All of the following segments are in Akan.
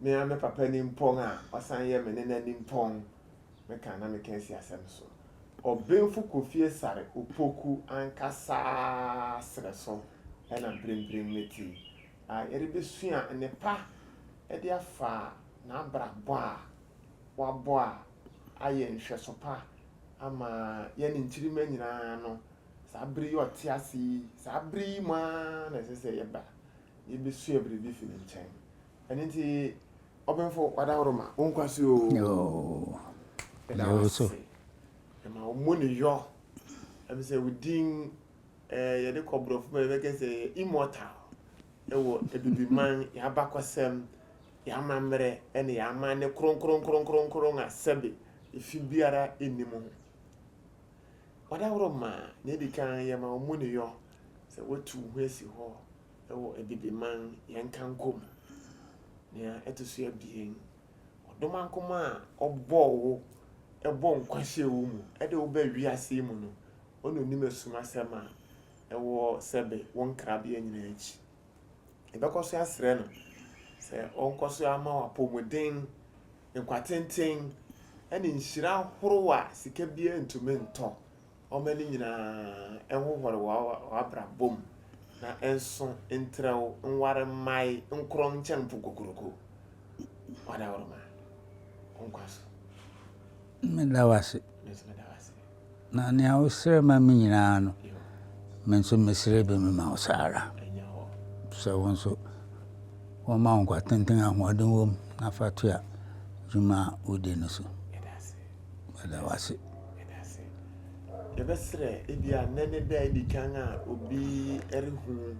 Me ara me papa nimpɔn a ɔsan yɛ me nena nimpɔn meka na meka asi asɛm so. Ɔbenfo Kofi Asare Opoku ankasa srɛ so na mprempren mete a yɛrebesua nnepa de afa n'abrabɔ a wabɔ a ayɛ nhwɛso pa ama yɛne nkyirimma nyinaa no, saa bere yi a ɔte ase yi, saa bere yi mu ara na ɛsɛ sɛ yɛba na yebesua biribi fi ne nkyɛn. ɛno nti ɔbenfo wadaworo ma wo nkwa so yoo ɛda wo so ɛma wo mu ne yɔ ɛbi sɛ wo din ɛɛ yɛde kɔ borɔfo ma yɛbɛkɛ sɛ yɛ immortal ɛwɔ abibiman yɛabakɔsɛm yɛamammerɛ ɛne yɛama ne kronkronkronkronkron a sɛbe efi biara nni mu ho wadaworo ma na ɛdi kan yɛma wo mu ne yɔ sɛ watu wo ho asi hɔ wɔ Abibiman yɛnkankɔ mu. Nea ɛto so abien, ɔdomankoma a ɔbɔɔ wo bɔɔ nkwa hyɛɛ wo mu de wo baa wiase yi mu no, ɔna onim asumasɛm a ɛwɔ sɛbe wo nkrabea nyinaa akyi. Yɛbɛkɔ so asrɛ no sɛ ɔnkɔ so ama wo apɔmuden, nkwa tenten, ne nhyira horow a sika biara ntumi ntɔ wɔn ani nyinaa nhohɔre wɔ w'abrabɔ mu na nso ntrɛw nware mmae nkorɔn nkyɛn mpo kokuroko. Wadaworoma, wo nkwa so. Meda wo ase. Me nso meda wo ase. Na nea wosrɛ ma me nyinaa no, me nso mesrɛ bi mema wo saa ara. Ɛnyɛ hɔ. Sɛ wo nso wɔma wo nkwa tenten ahoɔden wom na fa toa dwuma a wodi no so. Meda wo ase. Meda ase. Yɛbɛsrɛ ebi a nnɛ ne da edi kan a obi rehu.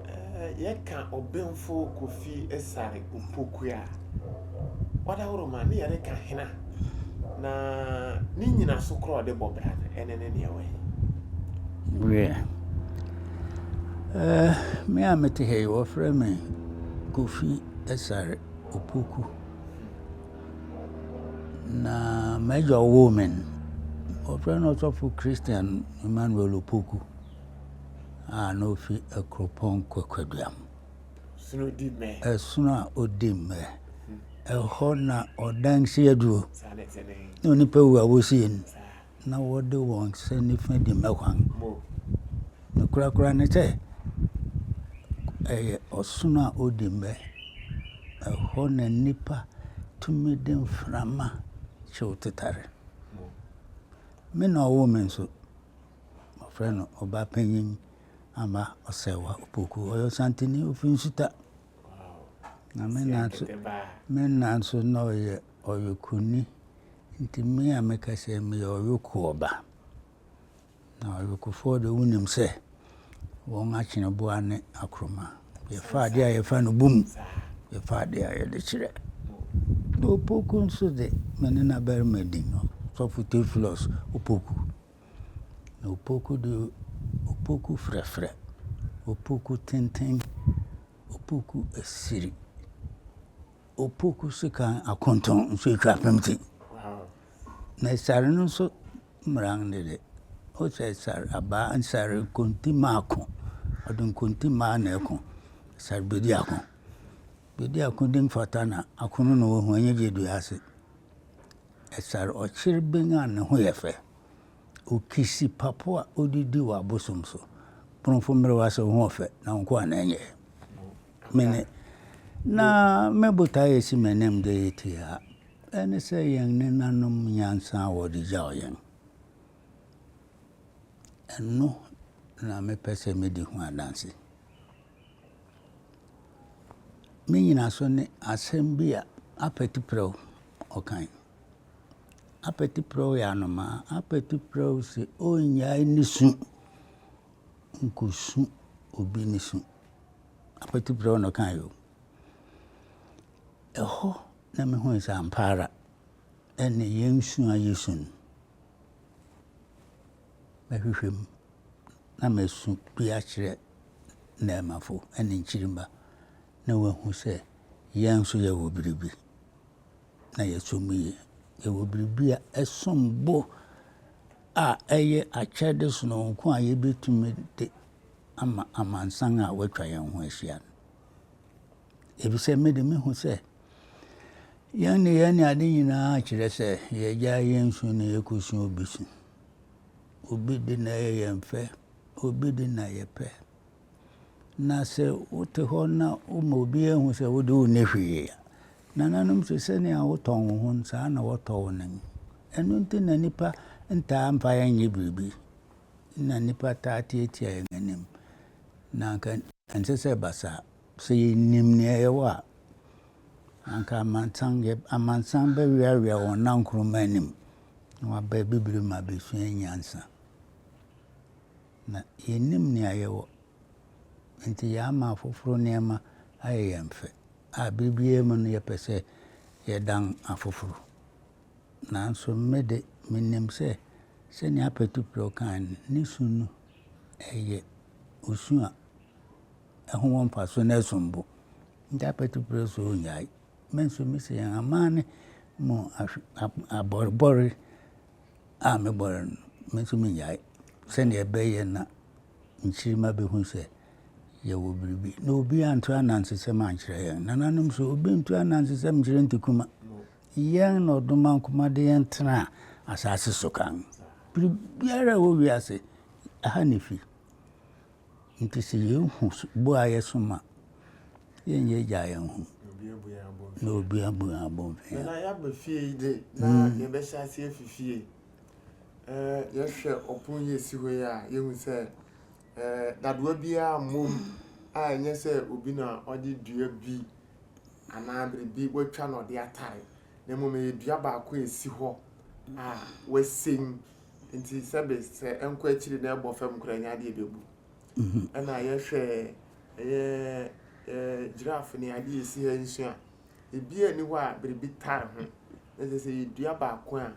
Ɛɛ yɛka ɔbenfo Kofi Esare Opoku a wadaworo ma ne yɛreka hena na ne nyinaso korɔ a ɔde bɔ bra no ɛne ne neɛ wɛn. Wiɛ. Ɛɛ me a mete ha yi wɔfrɛ me Kofi Esare Opoku. Na m'agya a ɔwoo me no, wɔfrɛ no Ɔsɔfo Christian Emmanuel Opoku a na ofi Akuropɔn Kwaduam. Ɛsono a odi mmɛ. Ɛhɔ na ɔdan si aduro. Na onipa wu a, wosie no. na wɔde wɔn hyɛ nifa di m'akwan. Ne korakora ne sɛ, ɛyɛ ɔsono a odi mmɛ. Ɛhɔ na nnipa tumi de mframa hyew tetare. Me na ɔwoo me nso, wɔfrɛ no Ɔbapanyin Amah Ɔsɛɛwa Opoku. Ɔyɛ Ɔsanteni, ofi Nsuta. Na me na nso, me na nso na ɔyɛ. Ɔyɔkoni, nti me a meka sɛ meyɛ ɔyɔkoɔ ba. Na ɔyɔkofoɔ deɛ wonim sɛ wɔn atweneboa ne akoroma. Yɛfa adeɛ a yɛfa no bom, yɛfa adeɛ a yɛde kyerɛ. Na opoku nso de, me ne n'abarima di no, Sɔfo Teofilɔs Opoku. Na opoku deɛ, opoku frɛfrɛ, opoku tenten, opoku asiri. Opoku sekan akonton nso etwa apem tse. Na sar no nso mmara no dɛ ɔsɛ sar abaa sar nkontimma akõ, ɔde nkontimma na ɛkõ, sar Bediako. Bediako de mfata na akõ no na ohu ɔnnyɛ gye dua ase. Sar ɔkyereben a ne ho yɛ fɛ, okisi papo a odidi wɔ abosom so. Kpõnfo mberɛw ase wo ho ɔfɛ na wo nkoa na ɛnyɛ. Me ne. Na me botaeɛ a ɛsi m'anim dɛ yɛte ha, ɛne sɛ yɛn nenanom nyansa a wɔde gyaw yɛn, ɛno na mepɛ sɛ medi ho adanse. Me nyinaso ne asɛm bi a Apɛti Prɛw ɔkae. Apɛti Prɛw yɛ anomaa. Apɛti Prɛw se ɔnnyae ne su. Nkosu obi nisu. Akwati brɛw na ɔkae o. Ɛhɔ na mihui sɛ ampa ara ɛnne yɛn su a yesu no, mɛhwehwɛ mu na masu bi akyerɛ nnɛɛmafo ne nkyirimma na wɔahu sɛ yɛn nso yɛwɔ biribi. na yɛsɔ mu yie. Yɛwɔ biribi a ɛsom bo a ɛyɛ akyɛde sononko a yɛbɛtumi de ama amansan a wɔatwa yɛn ho ahyia no. Ɛfisɛ me de mehu sɛ yɛn nneyɛɛ ne ade nyinaa kyerɛ sɛ yɛagya yɛn su na yɛkɔsu obi su. Obi de na ɛyɛ yɛn fɛ, obi de na yɛpɛ. Na sɛ wote hɔ na woma obiara hu sɛ wode wonni hwee a, nananom se sɛnea wotɔn wo ho no, saa na wɔtɔ wo no. Ɛno nti na nnipa ntaa mfa yɛn nyɛ biribi, na nnipa taa tiatia yɛn anim. Na anka ɛnsɛ sɛ ɛba saa. Sɛ yɛnim nea yɛwɔ a, anka amansan, amansan bɛweawea wɔn nankoroma anim, na wɔaba abibiri mu abɛsua nyansa. Na yennim nea yɛwɔ, enti yɛama afoforo nneɛma ayɛ yɛn fɛ, a bere biara mu no yɛpɛ sɛ yɛdan afoforo. Nanso me de, minim sɛ, sɛnea Apatuprɛw kae no, ne su no yɛ osu a ɛho wɔ mfaso na ɛsom bo. Enti Apatuprɛw se onnyae. Me nso mise yɛn amanne mu abɔrebɔre a mebɔree no, me nso mennyae, sɛdeɛ ɛbɛyɛ na nkyirimma bɛhu sɛ yɛwɔ biribi. Na obi anto anansesɛm ankyerɛ yɛn. Nananom so, obi nto anansesɛm nkyerɛ ntikuma. Yɛn na ɔdoma nkoma de yɛn tena asase so kan. Biribiara a ɛwɔ wiase, ɛha na ɛfiri. Nti sɛ yɛhu boayɛ so ma yɛnyɛ gyaa yɛn ho na obia bua abɔnfɛn a. Na yɛaba fie yi de na yɛbɛhyɛ ase afi fie. Yɛhwɛ ɔpon yi esi hɔ yi a yɛhu sɛ dadoa biara mmom a ɛnyɛ sɛ obi na ɔde dua bi anaa biribi watwa na ɔde atare na mmom ɛyɛ dua baako a esi hɔ a wasen Nti sɛbe sɛ ɛnkɔ akyiri na ɛbɔ fam koraa nya adeɛ bɛbu. Mhm. Ɛna yɛhwɛ ɛyɛ ɛɛ giraffe ne adeɛ esi ha nso a, ebi ani hɔ a biribi tare ho. Na kyerɛ sɛ yɛdua baako a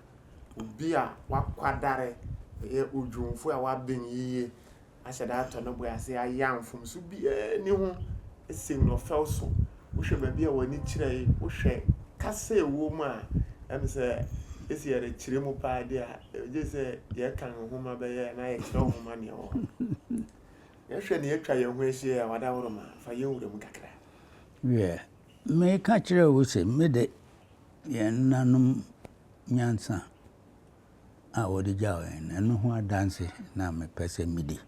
obi a wakwadare ɛyɛ odwumfo a waben yiye ahyɛ da atɔ ne bo ase ayɛ a mfomso biara nni ho sen no ɔfɛw so. Wohwɛ baabi a w'ani kyerɛ yi, wohwɛ kasa a ɛwɔ mu a, ɛm sɛ ese yɛrekyerɛ mu paa de a, ɛgye sɛ yɛkan nhoma bɛyɛ anaa yɛkyerɛw nhoma nea ɛwɔ hɔ. Yɛhwɛ nea atwa yɛn ho ahyia yi a, Wadaworoma, fa yɛn wura mu kakra. Hwɛ, meka kyerɛɛ wo se mede yɛn nanom nyansa. a wɔde gyaw yɛn no, ɛno ho adanse na mepɛ sɛ midi,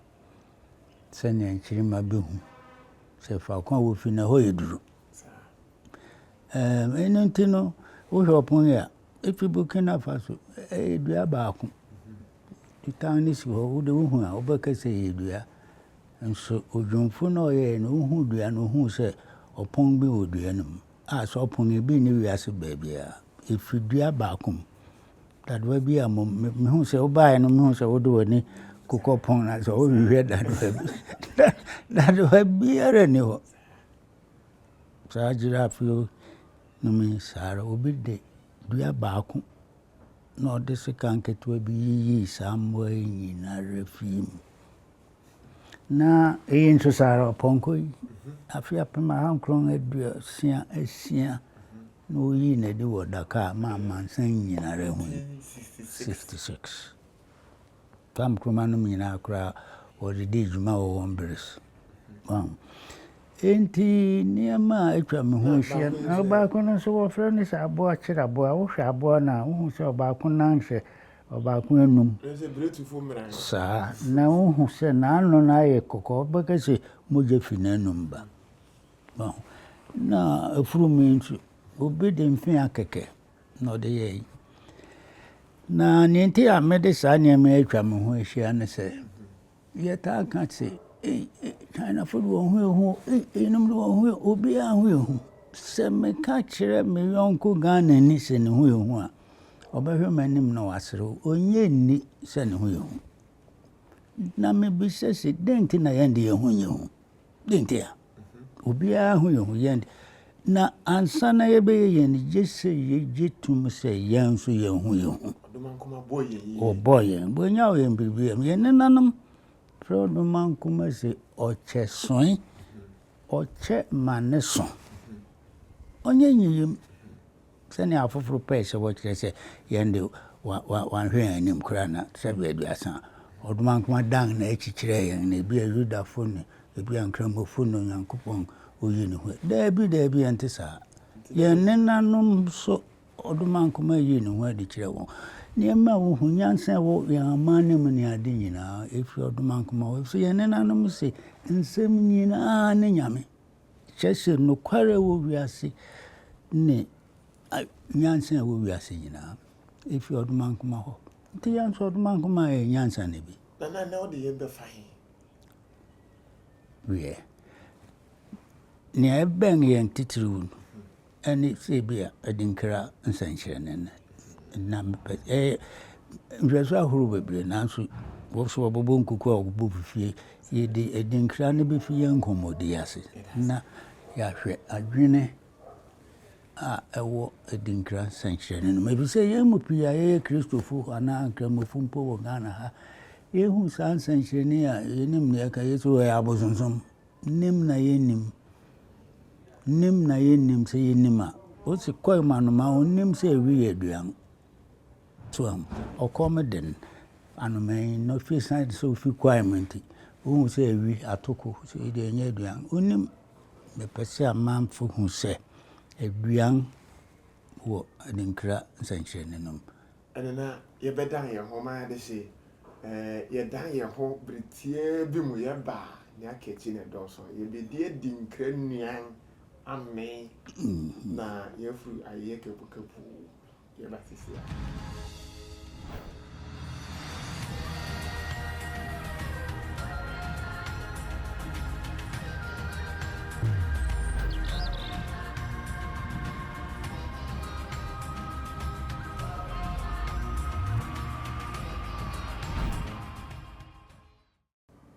sɛnea nkyirimma behu sɛ faako a wofi no ɛhɔ yɛ duru. Ɛno nti no, wohwɛ ɔpon yi a, efi Burkina Faso, ɛyɛ dua baako. Tan no si hɔ, wode wohu a, wobɛka sɛ ɛyɛ dua. Nso odwumfo no a ɔyɛe no, ohuu dua no, ohuu sɛ ɔpon bi wɔ dua no mu. a sɛ ɔpon no bi nni wiase baabiara. Efir dua baako mu. Dadowa bi a mom muhun sɛ wobae no muhun sɛ wode w'ani kokɔ pon no ase hɔ. Wohwehwɛ dadowa bi a dadowa biara nni hɔ. Saa giraffe yi no mu yi saa ara. Obi de dua baako na ɔde sekan ketewa bi yiyii saa mmoa yi nyinara fii mu. Na eyi nso saa ara, ɔpɔnkɔ yi, afe apem ahankron aduosia asia na woyii no adi wɔ Dakar ma amansan nyinara hui, sixty six. Tam Nkrumah nom nyinaa koraa wɔde dii dwuma wɔ wɔn bere so. Wahu? Enti nneɛma a atwa me ho ahyia no, na ɔbaako no nso wɔfrɛ no sɛ aboa kyere aboa. Wohwɛ aboa no a, wohu sɛ ɔbaako nan hyɛ Ɔbaako anum. Saa, na wohu sɛ n'ano no ayɛ kɔkɔɔ, wobɛka sɛ mogya fi n'anom ba. Wahu? Na afurum yi nso, obi de mfea kɛkɛ na ɔde yɛe. Na nea enti a mede saa nneɛma yi atwa me ho ahyia ne sɛ, Yɛtaa ka se, Ei, Chinafo de wɔn ho yɛ hu o, ei, eyinom de wɔn ho yɛ, obiara ho yɛ hu. Sɛ meka kyerɛ me yɔnko Ghanani sɛ ne ho yɛ hu a, ɔbɛhwɛ m'anim na waserew. Onnye nni sɛ ne ho yɛ hu. Na mibisa se, Dɛn nti na yɛn de yɛn ho nyɛ hu? Dɛn ntia? Obiara ho yɛ ho yɛn de. Na ansa na yɛbɛyɛ yɛn de, gye sɛ yɛgye tom sɛ yɛn nso yɛn ho yɛ ho. Ɔbɔɔ yɛn. Wɔnyaw yɛn biribi a. Yɛn nenanom frɛ ɔdomankoma sɛ ɔkyɛsoe. Ɔkyɛ ma ne so. Ɔnyɛ nyiyim. Sɛnea afoforo pɛe sɛ wɔkyerɛ sɛ yɛn de, wɔanhwɛ yɛn anim koraa na Sɛbe Aduasa a ɔdomankoma dan n'akyi kyerɛɛ yɛn no, ebia Yudafo ne ebia Nkramofo ne Onyankopɔn oyi ne ho. Dabi, dabi, ɛnte saa. Yɛn nenanom nso, ɔdomankoma yii ne ho adi kyerɛɛ wɔn. Nneɛma a wohu, nyansa a ɛwɔ yɛn amanne mu ne ade nyinaa, efi ɔdomankoma hɔ, efisɛ yɛn nenanom se, Nsɛm nyinaa ne nyame. Kyerɛ sɛ nokware a ɛwɔ wiase ne nyansa a ɛwɔ wiase nyinaa efi ɔdomankoma hɔ. Nti yɛn nso ɔdomankoma yɛ nyansa no bi. Nana ɛnɛ wode yɛn bɛfa he? Wiɛ, nea ɛbɛn yɛn titiriw no, ne sɛbia adinkra nsɛnkyerɛnne no. Na mepɛ sɛ ɛyɛ nhwɛso ahorow bebree nanso wɔso wɔbɛbɔ nkuku a wɔbɔ fi fie. Yɛde adinkra no bɛfi yɛn nkɔmmɔdi ase na yɛahwɛ adwene a ɛwɔ adinkra nsɛnkyerɛnne no mu. Efisɛ yɛn mu pii a yɛyɛ Kristofo anaa Nkramofo mpo wɔ Ghana ha, yɛhu saa nsɛnkyerɛnne yi a yɛnim nea ɛka, yɛse ɛyɛ abosonsom. Nim na yɛnnim, nim na yɛnnim sɛ yɛnnim a, wose kɔm anoma a ɔnnim sɛ ɛwi yɛ aduan. So ahu, ɔkɔm den anoma yi na ɔhwɛ ɛsiane sɛ ɔfi kwaem nti, ɔhu sɛ ɛwi atoko, sɛ ɛyi deɛ ɛnyɛ aduan, ɔnnim. Mepɛ sɛ amanfo hu sɛ aduan wɔ adinkra nsɛnkyerɛnne no mu. Ɛnna na yɛbɛdan yɛn ho ma yɛade hye. Ɛɛ, yɛdan yɛn ho bere tiaa bi mu yɛba a, nea aka akyi na ɛdɔɔso. Yebedi adi nkra nnuan, amee, na yɛafu ayeyɛ kapukapu yɛba sisi a.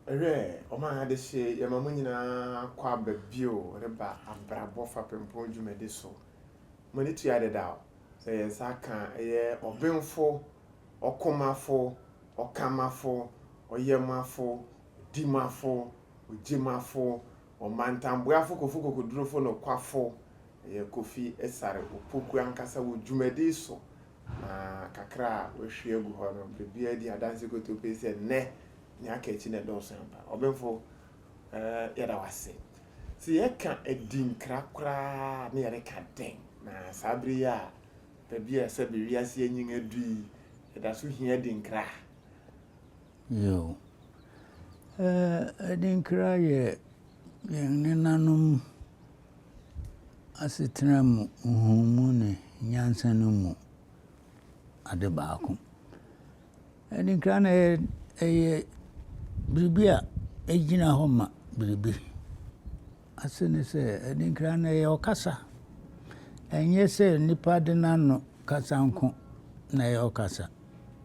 Hwɛ, ɔma adehye yɛma mo nyinaa kɔ aba bio reba abrabɔ fapempɔn dwumadi so. Mo ani tua dedaw sɛ yɛn nsa aka ɛyɛ ɔbenfo, ɔkomafo, ɔkamafo, ɔyɛmafo, odimafo, ogyimafo, Ɔmantamboafo Kofi Kokodurufo nokwafo yɛ Kofi Asare Opoku ankasa wɔ dwumadi so, na kakra a wahwie agu hɔ no, biribiara di adanse kotopii sɛ nnɛ nea aka akyi na ɛdɔɔso ampa. Ɔbenfo, yɛda wo ase. Sɛ yɛka adinkra koraa a, na yɛreka dɛn? Na saa bere yi a baabi a sɛbe wiase anyin adu yi, yɛda so hia adinkra. Yiw, adinkra yɛ yɛn nenanom asetena mu nhumu ne nyansa no mu ade baako. Adinkra no, ɛyɛ biribi a egyina hɔ ma biribi. Ase ne sɛ, adinkra no, ɛyɛ ɔkasa. Ɛnyɛ sɛ nnipa de n'ano kasa nko na ɛyɛ ɔkasa,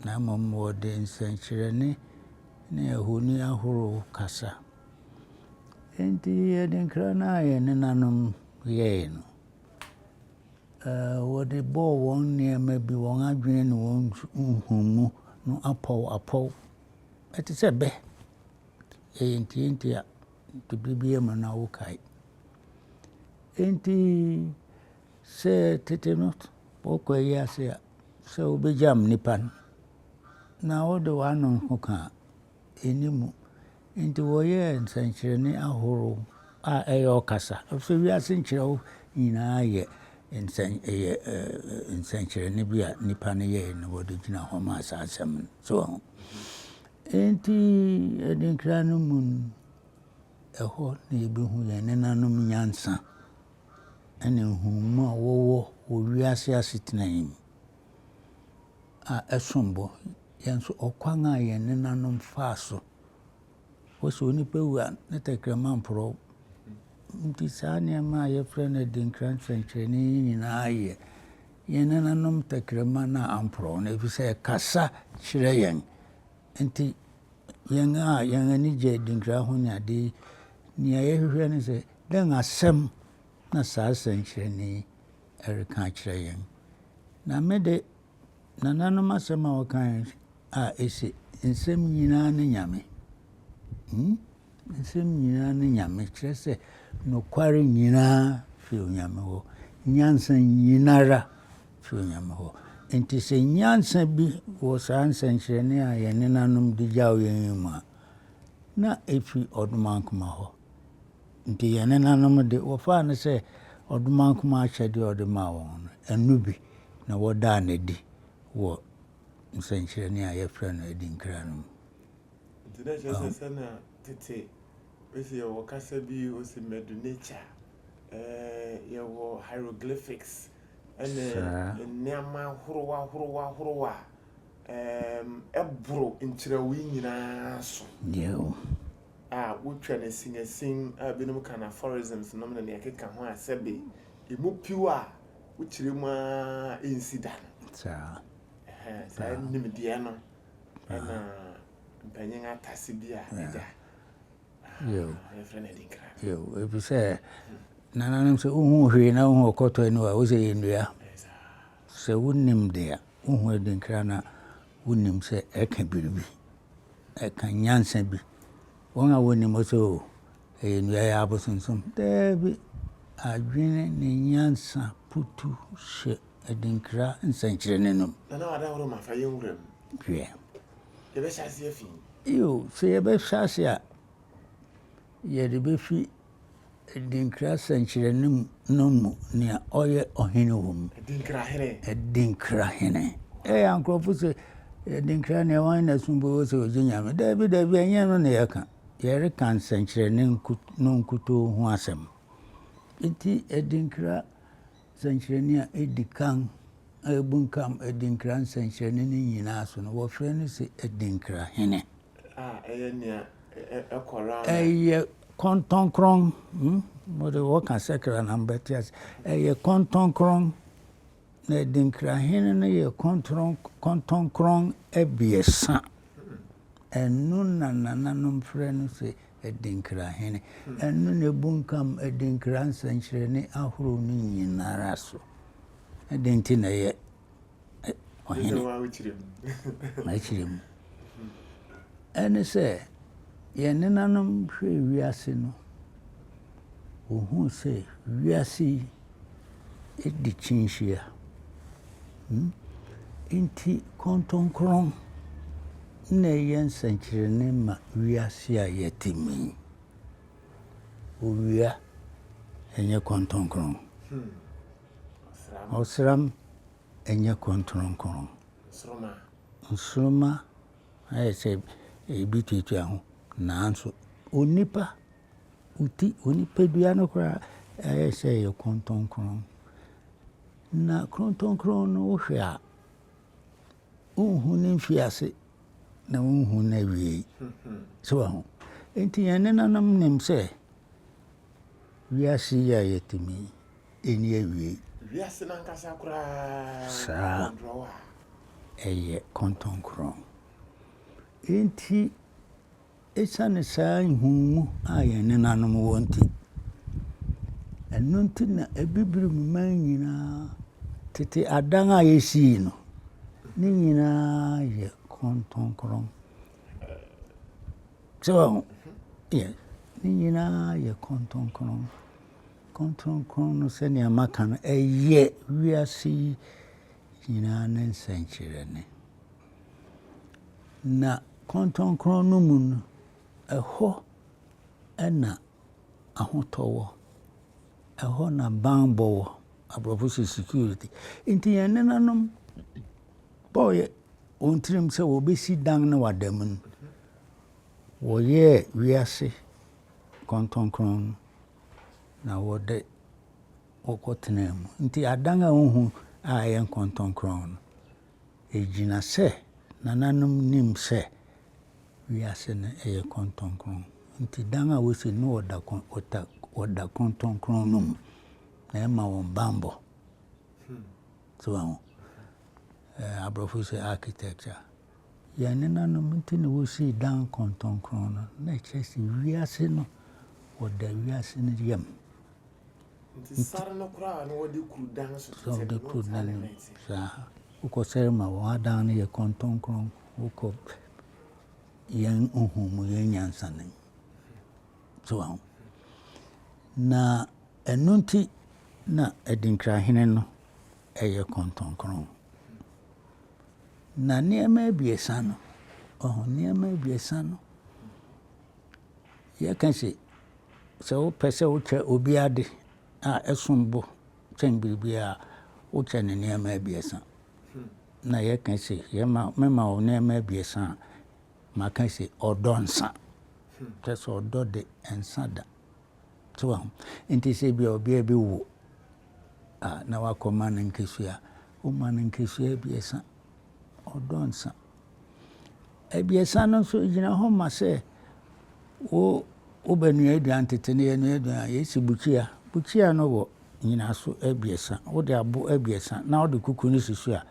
na mmom wɔde nsɛnkyerɛnne ne ahoni ahorow kasa. Enti adinkra no a yɛn nenanom yɛe no, wɔde bɔɔ wɔn nneɛma bi, wɔn adwene ne wɔn nhumu no apɔw apɔw. Ɛte sɛ bɛ, ɛyɛ ntiantia. nti bere biara mu na wokae. Enti sɛ tete no wɔkɔ ayi ase a, sɛ wobegyam nnipa no na wode w'ano ho ka a, enni mu. Enti wɔyɛɛ nsɛnkyerɛnne ahorow a ɛyɛ ɔkasa, efisɛ wiase nkyerɛw nyinaa yɛ nsɛn ɛyɛ nsɛnkyerɛnne bi a nnipa no yɛe na wɔde gyina hɔ maa saa asɛm no. So ho? Enti adinkra no mu no, ɛhɔ na yɛbɛhu yɛn nenanom nyansa ne nhunumu a wɔwɔ wɔ wiase asetena yi mu a ɛsom bo. Yɛn nso, ɔkwan a yɛn nenanom faa so. Wɔsɛ onipa wu a, ne tɛkrɛma mporɔw. Nti saa nneɛma a yɛfrɛ no adinkra nsɛnkyerɛnne yi nyinaa yɛ Yɛn nananom tɛkrɛma no amporɔw no, efisɛ ɛkasa kyerɛ yɛn. Enti, yɛn a yɛn ani gye adinkra ahonyade yi, nea yɛhwehwɛ ne sɛ, dɛn asɛm na saa sɛnkyerɛnne yi reka akyerɛ yɛn? Na me de, nananom asɛm a wɔkae a ese, Nsɛm nyinaa ne Nyame. Hmm? Nsɛm nyinaa ne Nyame, kyerɛ sɛ nokware nyinaa fi Onyame hɔ, nyansa nyinara fi Onyame hɔ. Enti sɛ nyansa bi wɔ saa nsɛnkyerɛnne a yɛn nenanom de gyaw yɛn yi mu a, na efi Ɔdomankoma hɔ. Enti yɛn nenanom de, wɔfaa no sɛ Ɔdomankoma akyɛde a ɔde maa wɔn no, ɛno bi na wɔdaa no adi wɔ nsɛnkyerɛnne a yɛfrɛ no Adinkra no mu. Nti na ɛkyerɛ sɛ sɛnea tete esi yɛwɔ kasa bi osi Medu-Neter, ɛɛ yɛwɔ hieroglyphics ne nneɛma ahorow ahorow ahorow a ɛɛm ɛboro nkyerɛwee yi nyinaa so a wotwa no asinasin a ebinom ka no aphorisms nom ne nea ɛkeka ho a sɛbe emu piw a wokyerɛ mu ara nsi da no. Saa nimdeɛ no ɛna mpanyin atase bi a ɛda yɛfrɛ no adinkra ɛfiri sɛ nananom sɛ wohu hwee na wohu ɔkɔtɔ ani a wosɛ yɛ nnua sɛ wonim de a wohu adinkra no a wonim sɛ ɛka biribi ɛka nyansa bi wɔn a wɔnim sɛ o ɛyɛ nnua yɛ abosonsom daabi adwene ne nyansa putu hyɛ adinkra nsɛnkyerɛnne no mu. Hwɛ. Yiw, sɛ yɛbɛhyɛ ase a, yɛde befi adinkra nsɛnkyerɛnne no mu nea ɔyɛ ɔhene wom. Adinkra hene. Adinkra hene. Ɛyɛ a nkurɔfo sɛ adinkra nea wɔn na som bo wɔ sɛ ogye Nyame. Dabi, dabi, ɛnyɛ no na yɛka. Yɛreka nsɛnkyerɛnne no nkutoo ho asɛm. Enti adinkra Sɛnkyerɛnne a edi kan a ebunkam adinkra nsɛnkyerɛnne no nyinaa so no, wɔfrɛ no sɛ adinkra hene. A ɛyɛ nea ɛkɔre ano. Ɛyɛ kɔntɔnkrɔn. Hmm? Mo de wɔka sɛkra na mbɛte ase. Ɛyɛ kɔntɔnkrɔn. Na adinkra hene no yɛ kɔntɔnkrɔn abiɛsa. Ɛno na nananom frɛ no sɛ Adinkra Hene. Ɛno na ɛbunkam adinkra nsɛnkyerɛnne ahorow no nyinara so. Dɛn nti na ɛyɛ Ɔhene? Mɛkyerɛ mu. Ɛne sɛ, yɛn nenanom hwɛɛ wiase no, wɔhuu sɛ wiase yi, di kyinhyia. Enti kɔntɔnkrɔn na ɛyɛ nsɛnkyerɛnne ma wiase a yɛte mu yi. Owia nyɛ kɔntɔnkrɔn. Ɔsram nyɛ kɔntɔnkrɔn. Nsoromma ayɛ sɛ ebi tuatua ho nanso onipa Wo ti, wo nipadua no koraa ayɛ sɛ ɛyɛ krontɔnkrɔn. Na krontɔnkrɔn no wohwɛ a, wonhu ne mfiase na wonhu n'awiei. So wɔ ho. Nti yɛn nenanom nim sɛ wiase yi a yɛte mu yi, ɛnni awiei. Wiase no ankasa koraa. Saa. Ɛyɛ krontɔnkrɔn. Nti. Esiane saa nhumu a yɛn nenanom wɔ nti, ɛno nti na Abibirim man nyinaa tete adan a yesii no, ne nyinaa yɛ kronkron. So, yɛ, ne nyinaa yɛ kronkron. Kronkron no sɛnea maka no, ɛyɛ wiase yi nyinaa ne nsɛnkyerɛnne. Na kɔntɔnkrɔn no mu no, ɛhɔ na ahotɔ wɔ, ɛhɔ na bammɔ wɔ, aborɔfo se security. Nti yɛn nenanom bɔɔyɛ wɔn tirim sɛ wɔbɛsi dan na wɔada mu no, wɔyɛɛ wiase kɔntɔnkrɔn no na wɔde wɔkɔtenaa mu. Nti adan a wohu a ɛyɛ nkɔntɔnkrɔn no, Egyina sɛ nananom nim sɛ wiase no yɛ krontɔnkron, nti dan a wosi no wɔ da krontɔnkron no mu na ɛma wɔn banbɔ. So ahu? Aborɔfo sɛ architecture. Yɛn nenanom nti na wosii dan krontɔnkron no, na ɛkyerɛ sɛ wiase no wɔda wiase no yam. Nti sar no koraa na wɔde kuru dan so tete no, no ntaa ne nan ase. Saa. Wokɔ sar mu a, wɔn adan no yɛ kɔntɔnkrɔn. Wokɔ yɛn nhumu, yɛn nyansanom. So aho. Na ɛno nti na Adinkrahene no ɛyɛ kɔntɔnkrɔn. Na nneɛma abiɛsa no, ɔho, nneɛma abiɛsa no. yɛka se, sɛ wopɛ sɛ wokyɛ obi ade a ɛsom bo kyɛn biribiara a, wokyɛ no nneɛma abiɛsa. Na yɛka se, yɛma mema wo nneɛma abiɛsa a, maka se ɔdɔ nsa. Kyɛ sɛ ɔdɔ de nsa da. So ahu. Nti sɛ bia ɔbea bi wo a na wakɔma no nkesua, woma no nkesua abiɛsa. Ɔdɔ nsa. Abiɛsa no nso gyina hɔ ma sɛ wo wobɛnoa aduan tete no yɛnoa aduan a yɛsi bukyia. Bukyia no wɔ nnyinaso abiɛsa. Wode abo abiɛsa na wode kuku no si so a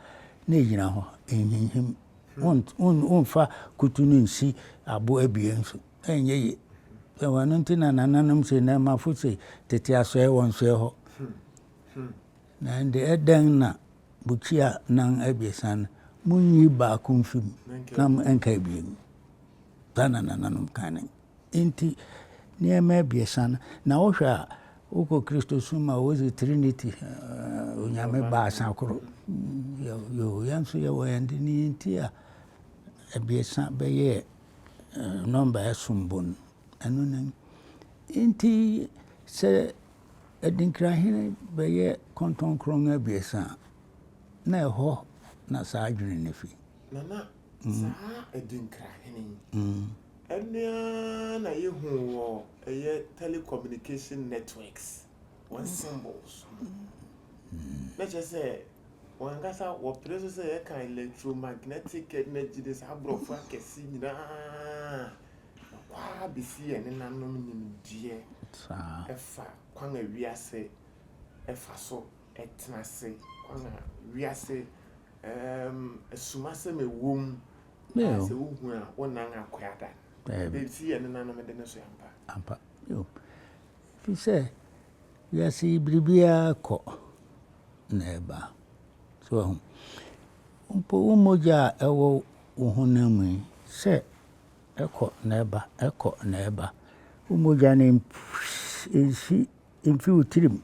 na ɛgyina hɔ. Ɛnhinhim. Womfa kutu no nsi abo abien so. Ɛnyɛ ye. Ɛwɔ ɛno nti na nananom se na ɛmafo se tete asoɛe wɔnsoɛ hɔ. Na ɛnde dɛn na bukyia nan abiɛsa no, munyi baako mfi mu na ɛnka abien? Saa na nananom kae no. Enti nneɛma abiɛsa no, na wohwɛ a, wokɔ Kristosom a, wose Trinity, Onyame baasa koro. Yoo, yɛn nso yɛwɔ yɛn de. Nea enti a abiɛsa bɛyɛɛ nɔmba a ɛsom bo no, ɛno ne no. Enti sɛ Adinkirahene bɛyɛ kɔntɔnkrɔn abiɛsa a, na ɛhɔ na saa adwene no fi. Na na saa Adinkirahene yi, ɛno ara na yɛhu wɔ ɛyɛ telecommunication networks, wɔn symbols no. Na kyerɛ sɛ, wɔn ankasa wɔpere nso sɛ yɛka electromagnetic energy ne saa aborɔfo akɛse nyinaa Nokwar bi si yɛn nenanom nyimdzee fa kwan a wiase fa so tsena ase, kwan a wiase esumasɛm a ɔwɔ mu a sɛ wohu a wo nan akoada. Dɛm si yɛn nenanom de no so ampa. Ampa, bio. Ɛfiri sɛ, wiase yi biribiara kɔ na ɛba. So wahu? Mpo wo mogya a ɛwɔ wo honam mu yi, sɛ Ɛkɔ na ɛba, ɛkɔ na ɛba. Wo mogya no mfi mfi wo tirim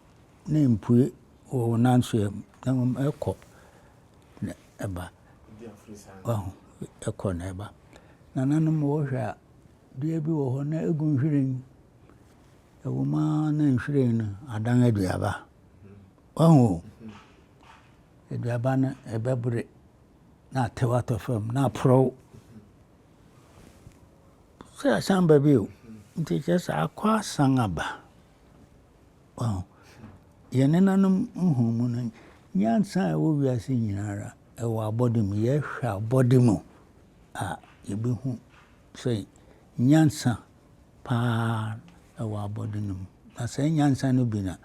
na ɛmpue wɔ wo nansoɛ mu na mmom ɛkɔ na ɛba. Wahu, ɛkɔ na ɛba. Nananom wɔhwɛ a, dua bi wɔ hɔ na ɛgu nhwiren. Ɛwɔ mu ara na nhwiren no adan aduaba. Wahu o, aduaba no ɛbɛbre na atew atɔ fam na aporɔw. Sɛ asan ba bio nti kyerɛ sɛ akɔ asan aba. Yɛn nenanom nhumu no, nyansa a ɛwɔ wiase nyinara ɛwɔ abɔde mu. Yɛhwɛ abɔde mu a yɛbɛhu sɛ nyansa paa ɛwɔ abɔde no mu. Na saa nyansa no bi na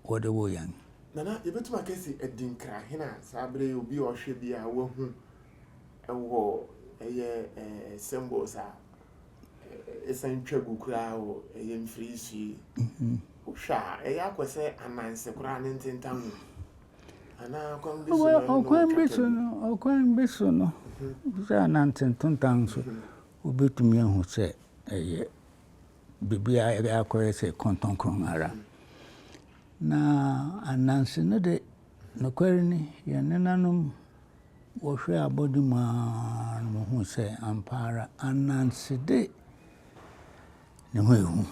wɔde wo yɛn. Nana, yɛbɛtumi aka sɛ adinkra hene a saa berɛ yi obi a ɔhwɛ biara wahu wɔ ɛyɛ ɛɛ symbols a ɛsan twa gu koraa wɔ ɛyɛ mfiri so yi mhm. wohwɛ a ɛyɛ akɔ sɛ ananse koraa ne ntentan mu anaa kwan bi so na ɔkwan bi so no ɔkwan bi so no mhm. sɛ ananse ntentan so mhm. wobɛtumi ahu sɛ ɛyɛ biribi a ɛbɛ akɔyɛ sɛ kɔntɔnkron ara na ananse no de nokware ni yɛn nenanom Wɔhwɛɛ abɔde mu ara na wɔhuu sɛ ampa ara ananse de, ne ho yɛ hu.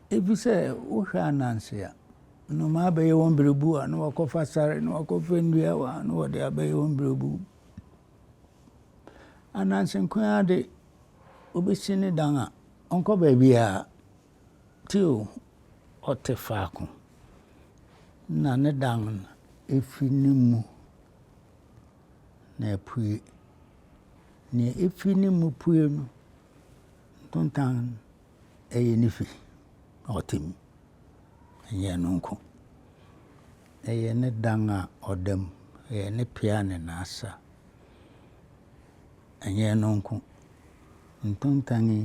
Efisɛ wohwɛ ananse a, nnomaa bɛyɛ wɔn berebuw a na wɔakɔfa sare na wɔakɔfa nnua a na wɔde abɛyɛ wɔn berebuw. Ananse nko ara de, obesi ne dan a, ɔnkɔ baabiara. Teo ɔte faako na ne dan fi ne mu na ɛpue. Nea efi ne mu pue no, ntontan yɛ ne fi na ɔte mu. Ɛnyɛ ɛno nko, ɛyɛ ne dan a ɔda mu, ɛyɛ ne pia ne n'asa. Ɛnyɛ ɛno nko, ntontan yi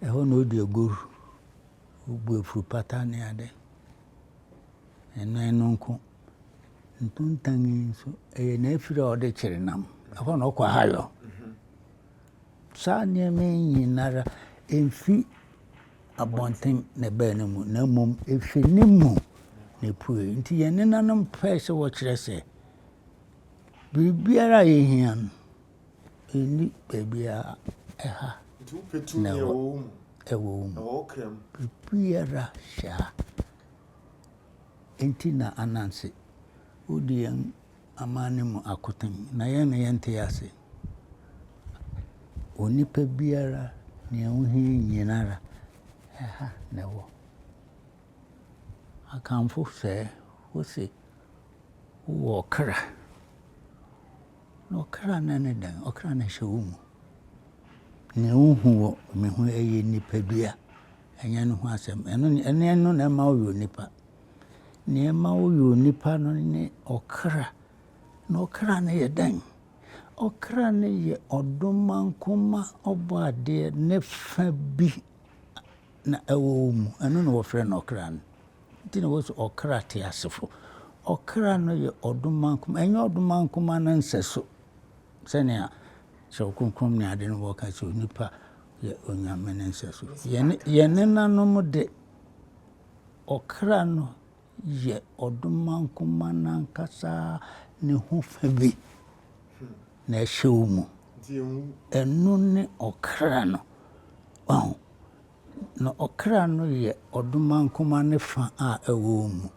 Ɛhɔ na odi agoru, obu afuru pata ne ade. Ɛno ɛno nko. Ntontan yi nso, ɛyɛ n'afiri a ɔde kyere nam. Ɛhɔ na ɔkɔ ahayɔ. Saa nneɛma yi nyinara ɛmfi abɔnten na ɛbaa ne mu, na mmom ɛfiri ne mu na ɛpue. Nti yɛn nenanom pɛɛ sɛ wɔkyerɛ sɛ biribiara a yɛhia no, Nni baabiara, ɛha na ɛwɔ wo mu. Biribiara hyɛ ha. Enti na Ananse, wodi yɛn amanne mu akoten, na yɛn na yɛnte ase. Onipa biara, nea wohia nyina ara, ɛha na ɛwɔ. Akanfo sɛɛ, wose, wowɔ ɔkra. Na ɔkra no ne dɛn? Ɔkra no hyɛ wo mu. Nea wuhu wɔ me ho yɛ nipadua, ɛnyɛ ne ho asɛm. Ɛno ne ɛne ɛno na ɛma woyɛ onipa. Nea ɛma woyɛ onipa no ne ɔkra. Na ɔkra no yɛ dɛn? Ɔkra no yɛ ɔdomankoma ɔbɔadeɛ ne fã bi na ɛwɔ wo mu. Ɛno na wɔfrɛ no ɔkra no. Nti na wɔse ɔkra teasefo. Ɔkra no yɛ ɔdoma nkumaa. Ɛnyɛ ɔdoma nkumaa no nsɛso sɛnea Kyerɛw Kronkron ne ade no wɔka sɛ onipa yɛ onyame no nsɛso. Yɛn nenanom de, ɔkra no yɛ ɔdoma nkumaa no ankasa ne ho fã bi na ɛhyɛ wo mu. Ɛno ne ɔkra no. Wahu? Na ɔkra no yɛ ɔdomankoma no fã a ɛwɔ wo mu.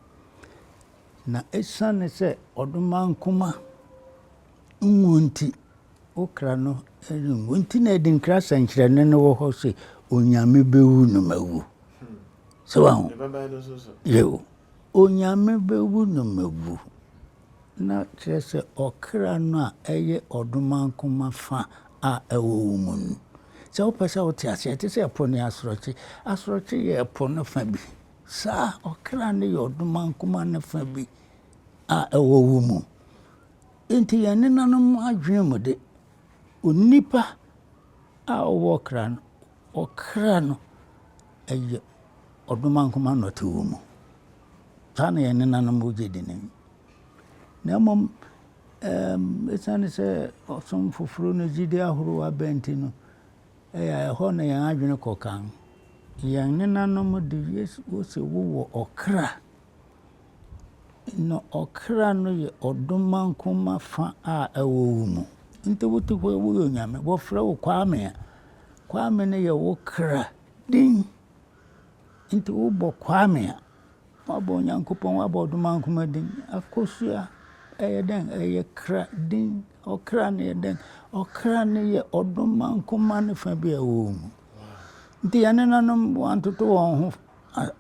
Na esiane sɛ ɔdomankoma nwu nti, wo kra no renwu. Enti na Adinkra sɛnkyerɛnne no wɔ hɔ se, Onyame bewu no mawu. So wahu? Yiw. Onyame bewu no mawu. Na kyerɛ sɛ ɔkra no a ɛyɛ ɔdomankoma fã a ɛwɔ wo mu no. Sɛ wopɛ sɛ wote ase a, ɛte sɛ po ne asorɔkye. Asorɔkye yɛ po no fã bi. Saa ara, ɔkra no yɛ ɔdomankoma no fã bi a ɛwɔ wo mu. Enti yɛn nenanom adwene mu de, onipa a ɔwɔ ɔkra no, ɔkra no yɛ ɔdomankoma na ɔte wo mu. saa na yɛn nenanom wogye di no. Na mmom esiane sɛ ɔsom foforo ne gyidi ahorow aba nti no, ɛyɛ a ɛhɔ na yɛn adwene kɔ kan. Yɛn nenanom de, wose wowɔ ɔkra, na ɔkra no yɛ ɔdomankoma fã a ɛwɔ wo mu. Nti wote hɔ yi, woyɛ Onyame, wɔfrɛ wo Kwame a, Kwame no yɛ wo kra din. Nti wobɔ Kwame a, woabɔ Onyankopɔn, woabɔ Ɔdomankoma din. Akosua, ɛyɛ dɛn? Ɛyɛ kra din. Ɔkra no yɛ dɛn? Ɔkra no yɛ Ɔdomankoma no fa bi a ɛwɔ wo mu. Nti yɛn nenanom, wɔantoto wɔn ho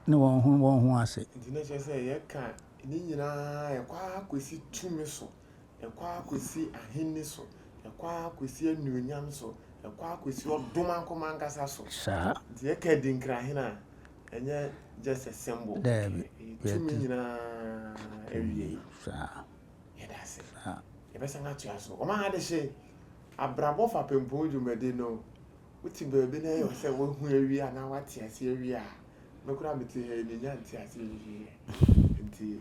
ne wɔn ho wɔn ho ase. Nti na ɛkyerɛ sɛ yɛka ne nyinaa ɛkɔ ara kɔsi tumi so. ɛkɔ ara kɔsi ahenni so, ɛkɔ ara kɔsi anuonyam so, ɛkɔ ara kɔsi ɔdom ankɔm ankasa so. Saa. Nti yɛka adinkirahene a, ɛnyɛ just a symbol. Daabi. Tumi nyinaa awie. Saa. Yɛda ase. Saa. Yɛbɛsan atoa so. Wɔn adehye, abrabɔ fapempɔn dwumadi no, wote baabi na ɛyɛ sɛ wahu awie anaa wate ase awie a, me koraa mete ha yi menya nte ase awie. Nti